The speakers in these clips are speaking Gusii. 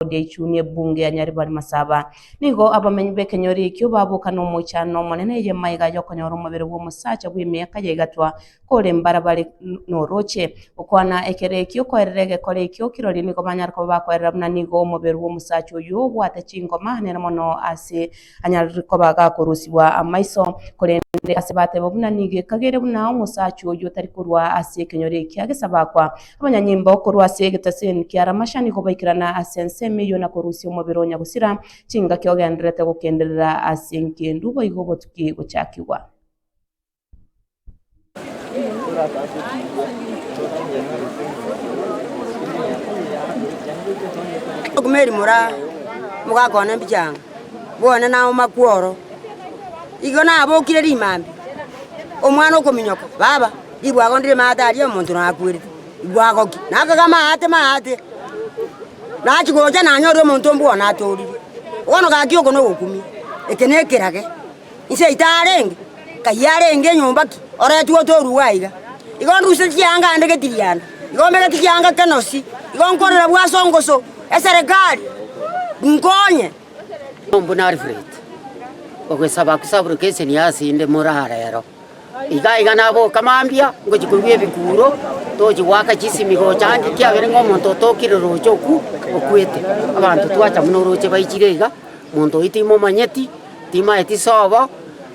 Claudia Ichuni ebunge ya Nyaribari Masaba. Nigo abamenyi b'ekenyoro ekio baboka nomochando omonene ey'emaiga y'okonyora omobere bw'omosacha bw'emiaka ya egatwa kore mbarabare n'orooche. Okwana ekero ekio koerera egekore ekio kirori nigo banyare koba bakoerera buna nigo omobere bw'omosacha oyio obwate chingoma nere mono ase Anyare koba gakorosibwa amaiso, korende ase bateba buna nigo ekagere buna omosacha oyio otari korwa ase ekenyoro ekia gesabakwa. Abanyanyimbo korwa ase egetaseni kia Lamasha nigo baikerana ase ensemo eyio na korusia omobere onya gosira chingaki ogendererete gokenderera ase nkindu boigo botuki gochakigwa. Okumeri moraa mogakwana mbiche ang'o? Bwone nauma kworo, igo nabokire rimambe, omwana okominyoka, baba, nigo agondire maate aria omonto nakwerete, nigo agokia, nakaga maate maate, nachia gocha nanyore omonto ombwene atorire. Bono gaki oko nogokumia, eke nekerage. Inse yaito arenge, kayio arenge enyomba ki oretwe otorigwe aiga. Igo nduse chianga ande getirianda, igo mbegeti chianga kenosi, igo nkorera bw'ase ongoso eserekari, inkonye. Omonto buna Alfred, ogwesaba kosaboroka eseni ase inde moraro ero. Iga iga naboka mambia ngochia korua ebikuuro, tochia goaka chisimi gocha ande, ekiagera ng'a omonto otokire roche okwo okwete. Abanto twacha buna oroche baichire iga, monto oyio timomanyeti, timaeti sobo.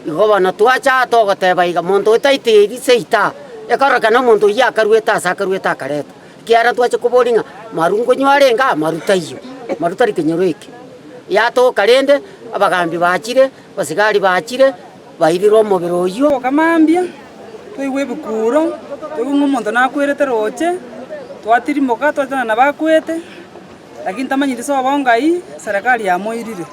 Igo bono twacha aa togoteba iga, monto oyio taito eri seita aa, ekorokana omonto oyio akaruete aase akaruete akaretwa. Ekiagera ntwache koboria ng'a maru nkonywa arenge aa, maru taiyo, maru tari kenyoro eke. Yatoka rende, abagambi bachire, abasigari bachire. Bairirwe omobere oyio. Oka mambia, toigwe ebikuuro, toigwe ng'a omonto nakwerete roche, twatirimoka, twatetana nabakwete, lakini tamanyeti ase obongo ayio Serikali yamoirire.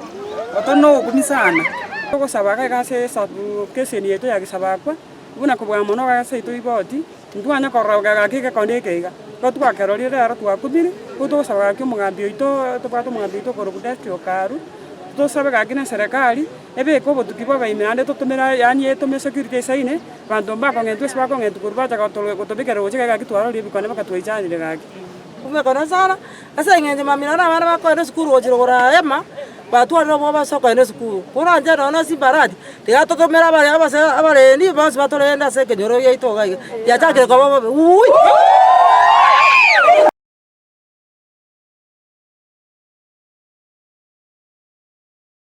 Otari nogokumisana. Ogosaba gaiga ase esabu, keseni yaito yagesabakwa, buna kobua mono gaiga ase yaito igoti. Ntibwanya korora egaki egekonde eke iga. Ekero twakerorire rero twakumire, nigo togosaba gaki omogambi oito, tobwate omogambi oito okorokwa Destry Okaru, tosabe gaki neserekari ebeke obotuki bwa abaibani naende totomere aye, yaani etome esecurity esaine abanto mbakong'entwe gose bakong'entwa korwa bacha goto gotobekerera gocha egaki twarorire ebikonde mpaka twaichanire gaki. Omoika o Nasara. Ase engencho mamilioni na abana bakoenda esukuru gochia rogoro a Hema batwarire obwoba ase okoenda esukuru. Koranche nonya na Simbarati, tiga totomere abaria abase abarendi bonsi batorende ase ekenyoro giaito iga iga, giachakire koba obobe uuii.